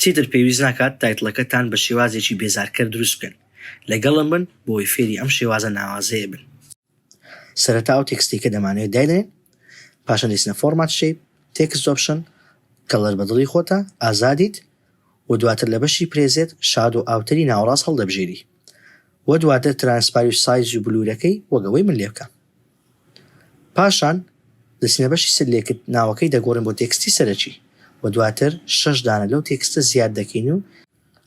چیتر پێویست ناکات تایتڵەکەتان بە شێوازێکی بێزارکەر دروست بکەن، لەگەڵم بن بۆ ئەوەی فێری ئەم شێوازە ناوازەیە بن. سەرەتا ئەو تێکستەیکە دەمانەوێت داینێن، پاشان دەیچنە فۆرمات شەیپ، تێکست ئۆپشن، کەڵەر بە دڵی خۆتە، ئازادیت، و دواتر لە بەشی پرێزێت شادۆ ئاوتەری ناوەڕاست هەڵدەبژێری و دواتر ترانسپاری و سایز و بلورەکەی وەک ئەوەی من لێبکەم. پاشان لە سنە بەشی سەر لێکت ناوەکەی دەگۆڕین بۆ تێکستی سەرەکی و دواتر شەش دانە لەو تێکستە زیاد دەکەین و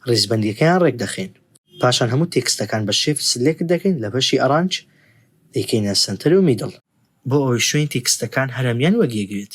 ڕیزبەندیەکەیان ڕێک دەخەین پاشان هەموو تێکستەکان بە شیفت سلێکت دەکەین لە بەشی ئەرانج دەیکەینە سەنتەر و میدڵ بۆ ئەوەی شوێنی تێکستەکان هەرەمیان وەک یەک بێت.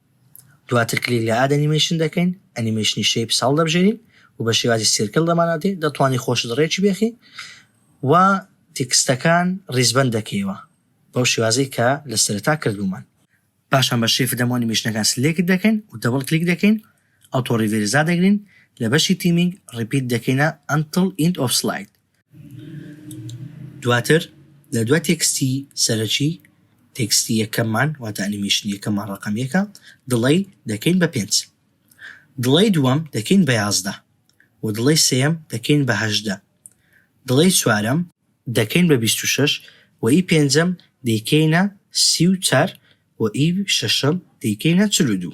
دواتر کلیک لە Add Animation دەکەین، ئەنیمەیشنی Shapes هەڵدەبژێرین و بە شێوازی سیرکڵ دەمانناتێ، دەتوانی خۆشت ڕێکی بێخی و تێکستەکان ڕیزبەند دەکەیەوە بەو شێوازەی کە لە سەرەتا کردوومان. پاشان بە Shape دەم و ئەنیمەیشنەکان سلێکت دەکەین و دەبڵ کلیک دەکەین، ئەوتۆ ڕیڤێرس دادەگرین، لە بەشی Theming ڕیپیت دەکەینە Until End of Slide. دواتر لە دوای تێکستی سەرەکی تێکستی یەکەممان واتە ئەنیمێشن یەکەممان ڕقم یەکە دڵی دەکەین بە پێنج دڵی دووەم دەکەین بە یازدە و دڵی سێم دەکەین بە هەشدە دڵی چوارەم دەکەین بە بیست و شەش و ئی پێنجەم دەیکەینە سی و چار و ئی شەشەم دەیکەینە چل و دوو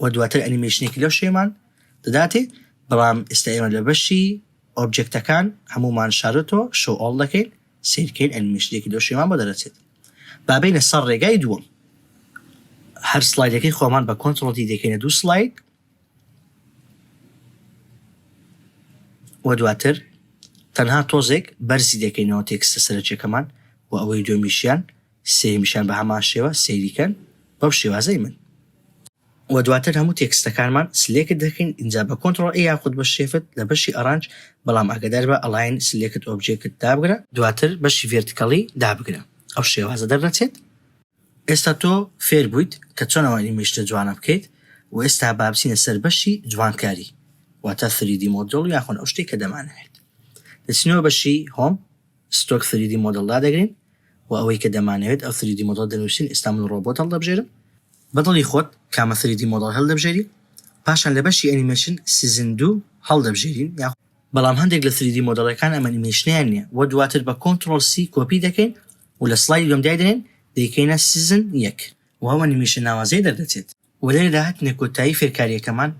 و دواتر ئەنیمێشنێکی لەو شێمان دەداتێ بەڵام ئێستا ئێمە لە بەشی ئۆبجێکتەکان هەمومان شارۆتۆ شۆو ئۆڵ دەکەین سیرکەین ئەنیمێشنێکی لەو شێمان بۆ دەرەچێت بابینە سەر ڕێگای دووەم هەر سلایدەکەی خۆمان بە کۆنتترۆڵی دەکەینە دوو سلاید و دواتر تەنها تۆزێک بەرزی دەکەینەوە تێکستە سەرچەکەمان و ئەوەی دومیشیان سێیەمیشیان بە هەمان شێوە سەیری کەن بەم شێوازەی من. وە دواتر هەموو تێکستەکانمان سلێکت دەکەین ئینجا بە کۆنتڕۆڵ ئێ یاخود بە شێفت لە بەشی ئەڕانج بەڵام ئاگەدار بە ئەڵاین سلێکت ئۆبجێکت دابگرە دواتر بەشی ڤێرتکەڵی دابگرە ئەو شێوازە دەرنەچێت. ئێستا تۆ فێر بوویت کە چۆن ئەو ئەنیمەیشنە جوانە بکەیت وە ئێستا با بچینە سەر بەشی جوانکاری واتە ثری دی مۆدێڵ یاخون ئەو شتەی کە دەمانەوێت دەچینەوە بەشی هۆم. ستۆک سریدی مۆدڵ دادەگرین و ئەوەی کە دەمانەوێت ئەو سریدی مۆدڵە دەنوسین ئیستا من ڕۆبۆت هەڵدەبژێرم بە دڵی خۆت کامە سریدی مۆدڵ هەلدەبژێری پاشان لە بەشی ئەنیمەیشن سیزن دوو هەڵدەبژێرین یاخود بەڵام هەندێک لە سریدی مۆدڵەکان ئەمەنیمەیشنیان نیە وە دواتر بە کۆنتڕۆڵ سی کۆپی دەکەین و لە سڵایدی دووەم دایدەنێن دەیکەینە سیزن یەک و ئەو ئەنیمەیشنە ناوازەیە دەردەچێت. و لێرەدا هاتینە کۆتایی فێرکارییەکەمان،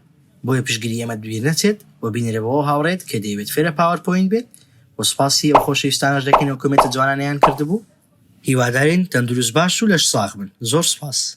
بۆیە پشتگری ئێمەت بیر نەچێت و بینێرە بەو هاوڕێیەت کە دەیەوێت فێرە پاوەر پۆینت بێت و سوپاسی ئەو خۆشەویستانەش دەکەین ئەو کۆمێنتە جوانانەیان کردبوو. هیوادارین تەندروست باش و لەش ساغ بن. زۆر سوپاس.